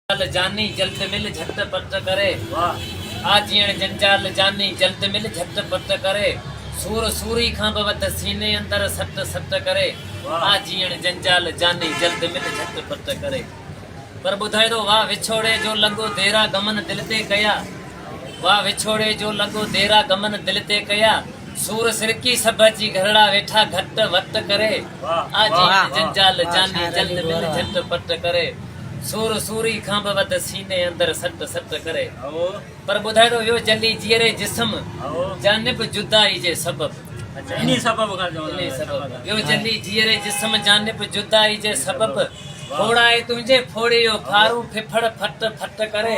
جنجال جاني جلد مل جهٽ پٽ ڪري واهه آ جيڻ جنجال جاني جلد مل جهٽ پٽ ڪري سور سوري کان به وڌ سيني اندر سٽ سٽ ڪري واهه آ جيڻ جنجال جاني جلد مل جهٽ پٽ ڪري پر ٻڌائي ٿو واهه وڇوڙي جو لڳو ديرا غمن دل تي ڪيا وا وڇوڙي جو لڳو ديرا غمن دل تي ڪيا سور سرڪي سڀ اچي گهرڙا ويٺا گهٽ وٽ ڪري آ جيت جنجال جاني جلد مل جهٽ پٽ ڪري سور سوري کان به وڌ سيني اندر سٽ سٽ ڪري پر ٻڌائڙو ويو جلي جيئري جسم جانب جدائي جي سبب انهي سبب کان چون ٿا ويو جلي جيئري جسم جانب جدائي جي سبب ڦوڙائي تنهنجي ڦوڙي يو ڦارون ڦڦڙ ڦٽ ڦٽ ڪري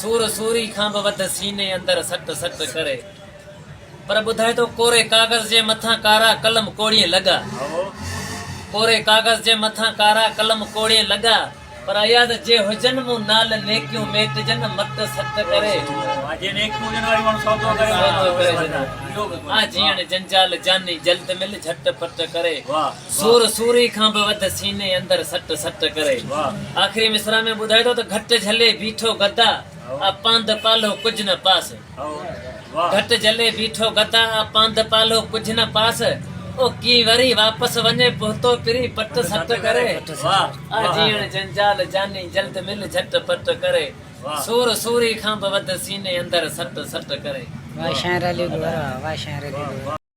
سور سوري کان به وڌ سيني اندر سٽ سٽ ڪري پر ٻڌائي ٿو ڪوري ڪاغذ جي مٿان ڪارا قلم ڪوڙين لڳا ڪوري ڪاغذ جي مٿان ڪارا قلم ڪوڙين لڳا پر اياد جي هجن مون نال نيڪيون ميٽجن مٽ سٽ ڪري آ جيئڻ جنجال جاني جلد مل جهٽ پٽ ڪري سور سوري کان به وڌ سيني اندر سٽ سٽ ڪري. آخري مصرع ۾ ٻڌائي ٿو ته گهٽ جهلي بيٺو گدا آ پانڌ پالهو ڪجهه نه پاس. گهٽ جهلي بيٺو گدا آ پانڌ پالهو ڪجهه نه پاس. او ڪين وري واپس وڃي پهتو پري پٽ سٽ ڪري. آ جيئڻ جنجال جاني جلد مل جهٽ پٽ ڪري. سور سوري کان به وڌ سيني اندر سٽ سٽ ڪري.